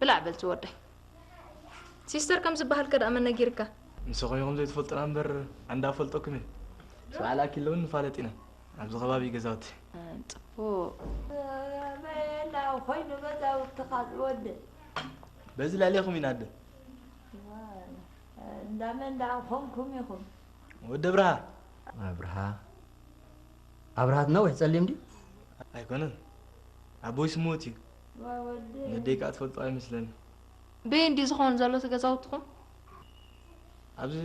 ብላዕ በል ዝወደይ ሲስተር ከም ዝበሃል ከ ደኣ መን ነጊርካ ንስኹም ኢኹም ዘይትፈልጡና እምበር ኣንዳ ፈልጠኩም እየ ስብሓ ልኣኪለውን ንፋለጥ ኢና ኣብዚ ከባቢ ገዛውቲ ፅቡቅ በየና ኮይኑ ገዛውትኻ ዝወድእ በዚ ልዕሌኹም ኢና ኣደ እንዳመን እንዳ ኮንኩም ኢኹም ወደ ብርሃ ኣብርሃ ኣብርሃት ነዊሕ ጸሊም ድዩ ኣይኮነን ኣቦይ ስሙት እዩ ነደይ ከዓ ትፈልጦ ኣይመስለኒ በየ እንዲ ዝኸውን ዘሎ እቲ ገዛውትኹም ኣብዚ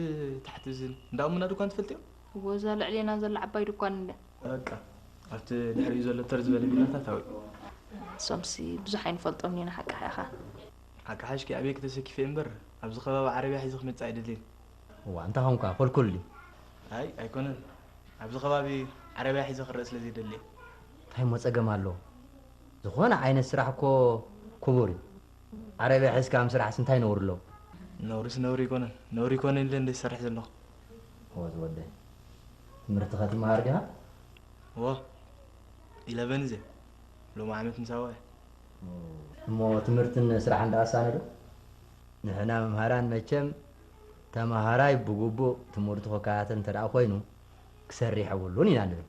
ታሕቲ እዚ እንዳ እሙና ድኳን ትፈልጥዮ እወ እዛ ልዕሌና ዘላ ዓባይ ድኳን እንድያ። በቃ ኣብቲ ድሕሪኡ ዘሎ ተር ዝበለ ቪላታት ኣውዒ። እሶምሲ ብዙሕ ኣይንፈልጦምን ኢና ሓቅኻ ኢኻ። ሓቂ ሓሽኪ ኣበይ ክተሰኪፊ እየ እምበር ኣብዚ ከባቢ ዓረብያ ሒዘ ክመጽእ ኣይደልን። እዋ እንታይ ኾንካ ኮልኩል ድዩ። ኣይ ኣይኮነን ኣብዚ ከባቢ ዓረብያ ሒዘ ክረእ ስለ ዘይደሊ እየ። እንታይ እሞ ጸገም ኣለዎ ዝኾነ ዓይነት ስራሕ እኮ ክቡር እዩ። ዓረብያ ሒዝካ ምስራሕስ እንታይ ነውሪ ኣለዎ? ነውሪስ ነውሪ ኣይኮነን። ነውሪ ይኮነን ኢለ እንድየ ዝሰርሕ ዘለኹ። እወ ዝወደይ። ትምህርትኸ ትመሃር ዲኻ? እወ ኢለቨን እዘ ሎሚ ዓመት ምስ ኣወዐ። እሞ ትምህርትን ስራሕን ደኣ ኣሳነ ዶ? ንሕና መምሃራን መቸም ተመሃራይ ብግቡእ ትምህርቱ ክከታተል እንተደኣ ኮይኑ ክሰርሕ የብሉን ኢና ንብል።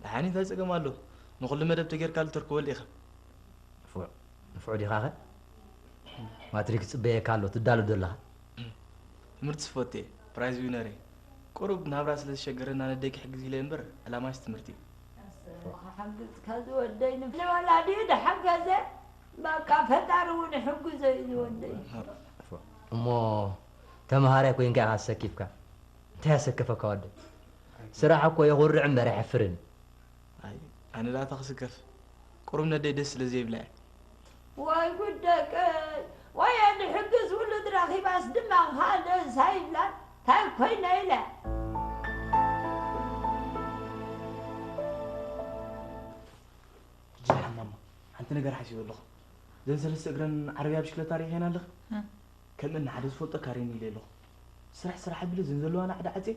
ደሓን እዩ እንታይ ጸገም ኣለዎ ንኹሉ መደብ ተገይርካሉ ተርክበሉ ኢኻ። ንፉዕ። ንፉዕ ዲኻኸ? ማትሪክ ይጽበየካ ኣሎ ትዳሎ ዶ ኣለኻ? ትምህርቲ ዝፈቱ እየ ፕራይዝ ዊነር እየ ቁሩብ ናብራ ስለ ዝሸገረኒ ኣነ ኣደይ ክሕግዝ ኢለ እምበር ዕላማይስ ትምህርቲ እዩ። ኣሰይ ክሓግዝካ ዝወደይ ንወላዲኡ ድሓገዘ በቃ ፈጣሪ እውን ይሕግዞ እዩ ዝወደይ። እሞ ተምሃራይ ኮይንካ ኢኻ ሰኪፍካ እንታይ ኣሰከፈካ ወደይ ስራሕ እኮ የኹርዕ እምበር ኣየሕፍርን እዩ። ኣይ ኣነ ዳኣ ተክስከፍ ቁሩብ ነደይ ደስ ስለ ዘይብላ እየ። ዋይ ጉድ ደቀይ ዋየ ድሕግዝ ውሉድ ረኺባስ ድማ ካልእስ ኣይብላን ታይ ኮይነ ኢላ። ጅርሓን ማማ ሓንቲ ነገር ሓሲበ ኣለኹ ዘን ሰለስተ እግረን ዓረብያ ብሽክለታ ሪኢኸየን ኣለኺ ከምእን ሓደ ዝፈልጦ ካሬን ኢለ ኣለኹ። ስራሕ ስራሕ ኣቢለ ዘንዘለዋ ናዕዲ ዓጼ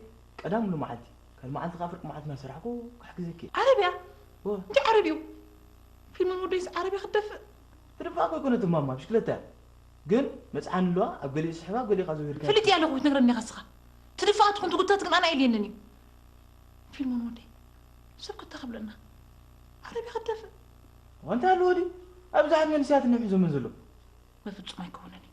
ቀዳሙሉ መዓልቲ ካልእ መዓልቲ ከኣ ፍርቂ መዓልቲ ናሰራሕኩ ክሕግዘኪ እየ። ዓረብያ እወ። እንታይ ዓረብይኡ ፊልሚ ንወደይስ ዓረብያ ክትደፍእ። ክድፋእ እኮ ኣይኮነትን ማማ ብሽክለታ እያ ግን መጽዓኒ ኣለዋ ኣብ ገሊኡ ስሒባ ኣብ ገሊኡ ከኣ ዘዊርካ ፈሊጠ እያ ኣለኩ ክትነግረኒ ኢካ እስካ ትድፋኣ ትኩን ትጉተት ግን ኣነ ኣየድልየንን እዩ ፊልሚ ንወደይ ሰብ ክታ ክብለና ዓረብያ ክትደፍእ። እዋይ እንታይ ኣለዎ ድዩ ኣብዙሓት መንእሰያት እንሕብሕዞመን ዘለዉ። በፍጹም ኣይከውንን እዩ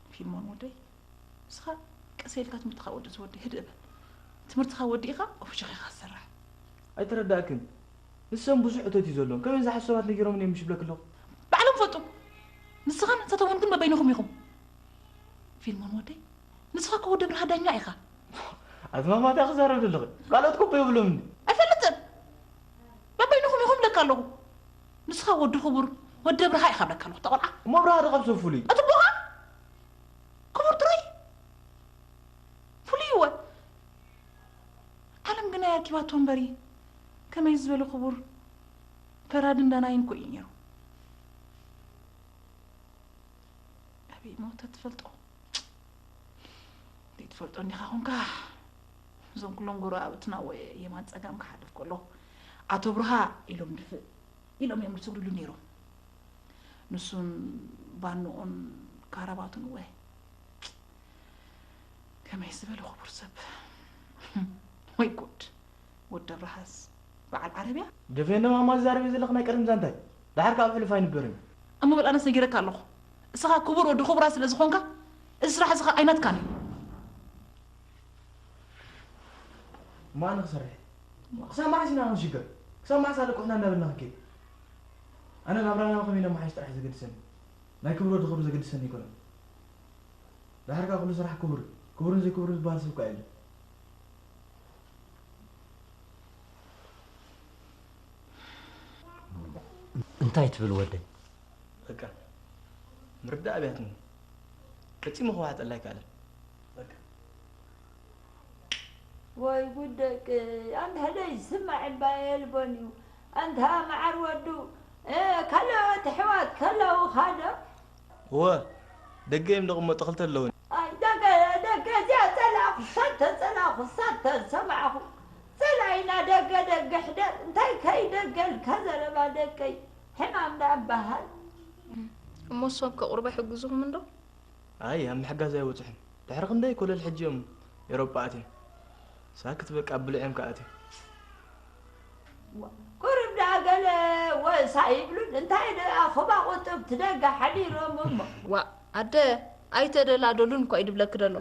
ፊልሞን ወደይ ንስኻ ቀስ ኢልካ ትምህርትኻ ወዲ ዝወዲ ህድእ በል ትምህርትኻ ወዲእኻ ፍሽኽ ኢኻ ዝሰርሕ። ኣይተረዳእክን ንሶም ብዙሕ እቶት እዩ ዘሎም ከመይ ዝሓሱ ሰባት ነጊሮምኒ እዮም ሽብለኪ ኣለኹ። ባዕሎም ይፈልጡ ንስኻን ሰተወን ግን በበይንኹም ኢኹም። ፊልሞን ወደይ ንስኻ እኮ ወዲ ብርሃ ዳኛ ኢኻ። ኣዝማማት እያ ክዛረብ ዘለኺ ካልኦት ኮቦ የብሎምን። ኣይፈልጥን በበይንኹም ኢኹም እብለካ ኣለኹ። ንስኻ ወዲ ክቡር ወዲ ኣብርሃ ኢኻ እብለካ ኣለኹ እታ ቆልዓ። እሞ ኣብርሃ ዶ ካብ ሰብ ፍሉይ? እቲ ኣቦኻ ክቡር ጥራይ ፍሉይ እወ ዓለም ግናይ ኣርኪባቶ እምበሪ ከመይ ዝበለ ክቡር ፈራድን ዳናይን እኮ እዩ ኔሩ። ኣበይ እሞ ተትፈልጦ ዘይትፈልጦ እንዲኻ ኮንካ እዞም ኩሎም ጎረባብትና እወ የማን ጸጋም ክሓልፍ ከሎ ኣቶ ብርሃ ኢሎም ድፍእ ኢሎም እዮም ዝስግድሉ ነይሮም። ንሱን ባንኡን ካራባቱን እወ ከመይ ዝበለ ክቡር ሰብ ወይ ጉድ! ወዲ ኣብርሃስ በዓል ዓረብያ ደፌ እኖ ኣማ ዝዛረብዮ ዘለኺ ናይ ቀደም ዛንታ እዩ ደሓር ከኣ ኣብ ሕሉፍ ኣይንበርን እዩ። እሞ በል ኣነስ ነጊረካ ኣለኹ እስኻ ክቡር ወዲ ክቡራት ስለ ዝኾንካ እዚ ስራሕ እዚ ከኣ ኣይናትካን እዩ። ማን ክሰርሕ ክሳብ መዓስ ኢና ክንሽገር ክሳብ መዓስ ኣለቁሕና እናበልና ክንከይድ ኣነ ናብራና ከመይ ነመሓይሽ ጥራሕ ዘገድሰኒ ናይ ክብሮ ድኽብሪ ዘገድሰኒ ኣይኮነን ድሓር ከዓ ኩሉ ስራሕ ክቡር እዩ ክቡርን ዘይክቡርን ዝበሃል ሰብ ከዓ የለን እንታይ ትብል ወደይ በቃ ምርዳእ ኣብያትኒ ፈፂሙ ክዋሓጠላ ኣይከኣለን ወይ ጉድ ደቅይ ኣንታ ደይ ዝስማዕ እባ የልቦን እዩ ኣንታ ማዓር ወዱ ካሎኦት ኣሕዋት ከለውካ ዶ። እወ ደገ እዩም ደቅመጡ ክልተ ኣለውኒ። ኣይ ደገ ደገ እዚኣ ጸላእኩ ሸቶ ጸላእኩ ሳታ ዝሰማዕኩ ጸላኢና ደገ ደገ ሕደር እንታይ ከይ ደገ ልካ ዘረባ ደቀይ ሕማም ዳኣ እባሃል። እሞ እሶም ከቅርቡ ኣይሕግዙኹምን ዶ? ኣይ ኣብ ምሕጋዝ ኣይበጽሑን ድሕሪ ክንደይ ኮለል ሕጂ እዮም ኤሮጳ ኣትዮም ሳክት በቃ ብሉዕዮም ከኣ ኣትዮም። ቁሩብ ደኣ ገለ ወስ ኣይብሉን እንታይ ደኣ ኹባ ቁጥብ ትደጋ ሓዲሮም እሞ። ዋእ ኣደ ኣይተደላደሉን እኳ እዩ ድብለኪ ደሎ።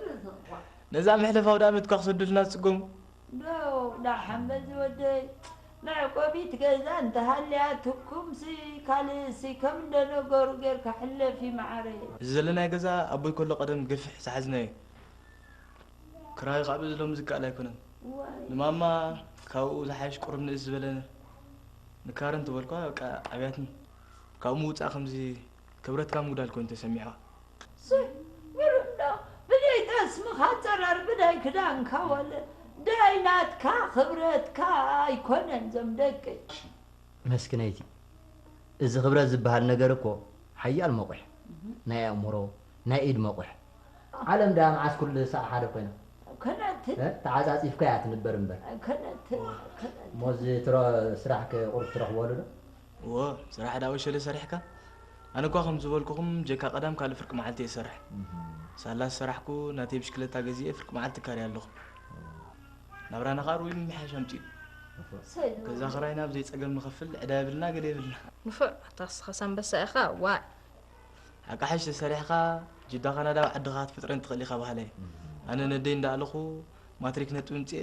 ነዛ መሕለፊ ኣውዳመት እኳ ክሰዱልና ዝጽገሙ ዶ ዳሓን በዚ ወደይ መዕቆቢት ገዛ እንተሃልያትኩምሲ ካልእሲ ከም እንደነገሩ ጌርካ ሕለፊ ማዓረይ። እዚ ዘለናዮ ገዛ ኣቦይ ከሎ ቀደም ገፊሕ ዝሓዝናዮ እዩ ክራዩ ካኣ በዚ ሎሚ ዝከኣል ኣይኮነን ንማማ ካባኡ ዝሓይሽ ቁሩብ ንእስ ዝበለ ንካረንት በልኩዋ በቃ ኣብያትኒ ካብኡ ምውጻእ ከምዚ ክብረትካ ምጉዳል ኮይኑ ተሰሚዕካ። ሱይ ምሉእ እንዶ ብደይ ጠስምካ ጸረር ብደይ ክዳንካ ወለ ደይ ናትካ ክብረትካ ኣይኮነን ዞም ደቂ። ኣሽ መስኪነይቲ እዚ ክብረት ዝብሃል ነገር እኮ ሓያል መቑሕ ናይ ኣእምሮ ናይ ኢድ መቑሕ። ዓለም ድኣ መዓስ ኩሉ ሳዕ ሓደ ኮይና። ኣይኮነትን። እ ተዓጻጺፍካ እያ ትንበር እምበር። ኣይኮነትን ኣይኮነትን። እሞ እዚ ትሮ ስራሕኪ ቁሩብ ትረኽበሉ ዶ። እወ ስራሕ ዳዊት ሸለ ሰሪሕካ ኣነ እኳ ከም ዝበልኩኹም ጀካ ቀዳም ካልእ ፍርቂ መዓልቲ እየ ዝሰርሕ ሳላ ዝሰራሕኩ ናተይ ብሽክለታ ገዚኤ ፍርቂ መዓልቲ እካርያ ኣለኹ ናብራና ከዓ ርኡይ ምምሕያሽ ኣምፅኡ ገዛ ክራይና ብዘይ ፀገም ንኸፍል ዕዳ የብልና ገለ የብልና ንፉዕ ኣታክስኻስ ኣንበሳ ኢኻ ዋይ ኣቃሓሽ ተሰሪሕኻ ጅዳ ካናዳ ኣብ ዓድኻ ክትፍጥረን ትኽእል ኢኻ በሃላይ ኣነ ነደይ እንዳኣለኹ ማትሪክ ነጥቢ ምፅኤ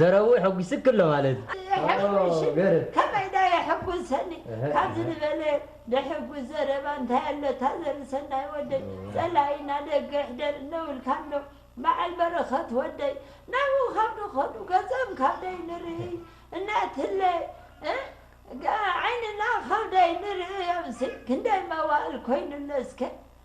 ዘረውእ ሐጒስኪ ኣሎ ማለት ኦገርም። ከመይ ዳኣ የሕጉሰኒ ካብዚ ዝበለ ደሕጉስ ዘረባ እንታይ ኣሎ እታ ዘርሰናይ ወደይ ጸላኢ ናደገ ይሕደር እነውልካ ኣሎ ባዓል በረኸት ወደይ ናብኡ ካብ ድኸዱ ገጾም ካብ ደይ ንርእይ እናትለ ዓይንና ካብ ደይ ንርእዮምሲ ክንደይ መዋእል ኮይኑ ኣሎ እስከ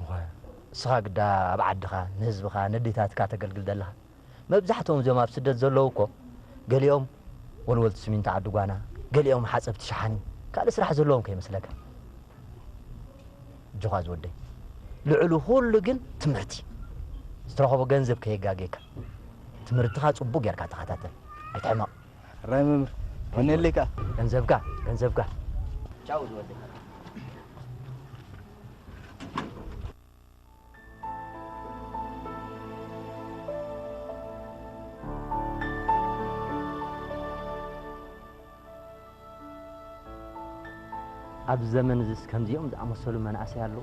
እወ እስኻ ግዳ ኣብ ዓድኻ ንህዝብኻ ነዴታትካ ተገልግል ዘለኻ መብዛሕትኦም እዚኦም ኣብ ስደት ዘለዉ እኮ ገሊኦም ወልወልቲ ስሚንቶ ዓዲ ጓና ገሊኦም ሓፀብቲ ሸሓኒ ካልእ ስራሕ ዘለዎም ከይመስለካ እጆኻ ዝወደይ ልዕሉ ኩሉ ግን ትምህርቲ ዝተረኸቦ ገንዘብ ከየጋጌካ ትምህርትኻ ፅቡቅ ጌርካ ተኸታተል ኣይትሕመቕ ራይ መምህር ወነለይ ከዓ ገንዘብካ ገንዘብካ ቻው ዝወደይ ኣብ ዘመን እዚስ ከምዚኦም ዝኣመሰሉ መናእሰይ ኣለዉ።